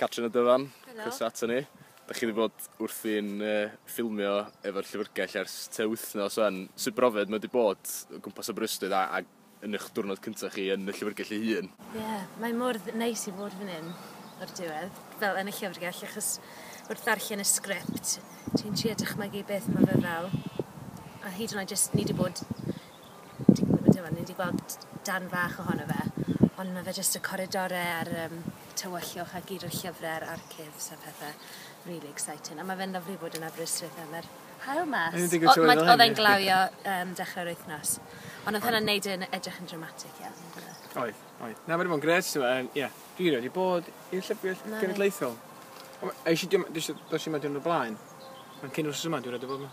Catrin a Dyfan. Helo. Croeso ato ni. Da chi wedi bod wrthi'n uh, ffilmio efo'r llyfrgell ers te wythnos o'n. Sut brofiad mae wedi bod o gwmpas Aberystwyth a, a yn eich diwrnod cyntaf chi yn y llyfrgell ei hun? Ie, yeah, mae mor neis i fod fan hyn o'r diwedd, fel yn y llyfrgell, achos wrth ddarllen y sgript, ti'n trio dychmygu beth mae fe fel. A hyd yn oed jyst ni wedi bod Dwi'n gwybod t'mod ni 'di gweld darn fach ohono fe ond ma' fe jyst y coridore a'r yym tywyllwch a gyd o'r llyfre a'r archifs a phethe rili exciting a ma' fe'n lyfli bod yn Aberystwyth a ma'r haul mas. O'n i'n digwydd troi fel hyn. O- ma- odd e'n glawio yym dechre'r wythnos. Ond odd hwnna'n neud e yn edrych yn dramatic iawn on'd o'dd e? Oedd oedd. Na ma' 'di bod yn grêt t'mo' yym ie dwi rioed 'di bod i'r llyfrgell genedlaethol. O- esh i dim- dishwm- dishwm y diwrnod o blaen. Ond cyn wsos yma dwi rioed 'di bod 'ma.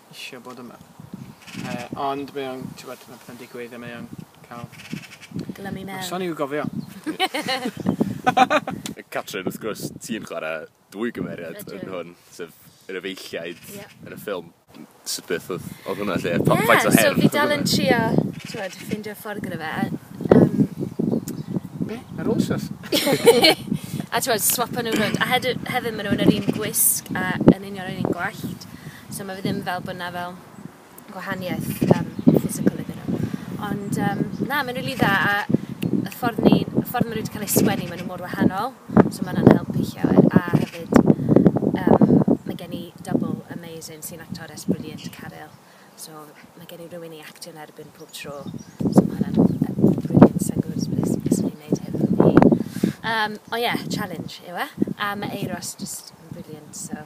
isio bod yma. Yy ond mae o'n t'wod ma' pethe'n digwydd a mae o'n ca'l... Glymu i mewn. Noson i'w gofio. Catrin wrth gwrs ti'n chware dwy gymeriad... Ydw. ...yn hwn sef yr efeilliaid... Ie. ...yn y ffilm. M- sut beth odd odd hwnna 'lly a pa- faint o her odd hwnna? Ie so fi dal yn trio t'wod ffindio ffordd gyda fe yym. Be'? Ar ôl stwff? A t'wod swapo nw rownd a hedy- hefyd ma' nw yn yr un gwisg a yn union yr un gwallt. So ma' fe ddim fel bo' 'na fel gwahaniaeth yym physical iddyn nhw. Ond yym na mae'n rili dda a y ffordd ni y ffordd ma' nw 'di ca'l eu sgwennu ma' nw mor wahanol so ma' wnna'n helpu llawer a hefyd yym ma' gen i double amazing sy'n actores brilliant Caryl so ma' gen i rywun i actio'n erbyn pob tro so ma' hwnna'n yy brilliant sai'n gwbod os bydd es- bysen i'n neud hyn yn fy hun. Yym o ie challenge yw e a ma' Euros jyst yn brilliant so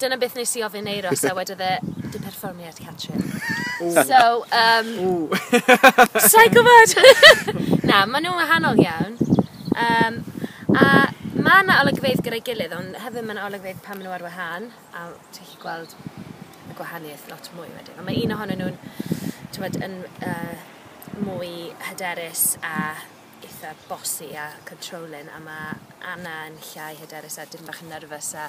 Dyna beth nes i ofyn Euros a wedodd e, dim perfformiad, Catrin. So, um... Sa'n gwybod! Na, maen nhw'n wahanol iawn. Um, a mae yna olygfeydd gyda'i gilydd, ond hefyd mae yna olygfeydd pan maen nhw ar wahân, a ti'n gallu gweld y gwahaniaeth lot mwy wedyn. Ond mae un ohonyn nhw'n, ti'n bod, yn uh, mwy hyderus a eitha bossy a controlling, a mae Anna yn llai hyderus a dim bach yn nervous a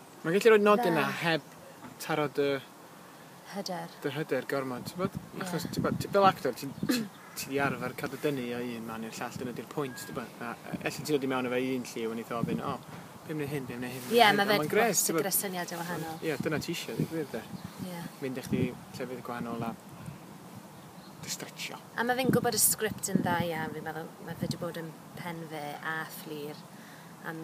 Mae'n gallu rhoi nodyn dda heb taro dy... Hyder. ...dy hyder gormod t'bod? Ie. Achos t'bo' ti fel actor ti'n ti ti 'di arfer ca'l dy dynnu o un man i'r llall dyna 'di'r pwynt t'bo' a e- elli di ddod i mewn â fe i un lliw a neith o ofyn o be' am neu' hyn be' am neu' hyn Ie ma' fe ma'n grêt t'bod? gyda syniade wahanol. Ie dyna ti isie deu' gwir 'de? Ie. Mynd â chdi llefydd gwahanol a dy stretsio. A ma' fe'n gwbod y sgript yn dda iawn fi'n meddwl ma' fe 'di bod yn pen fe a Fflur am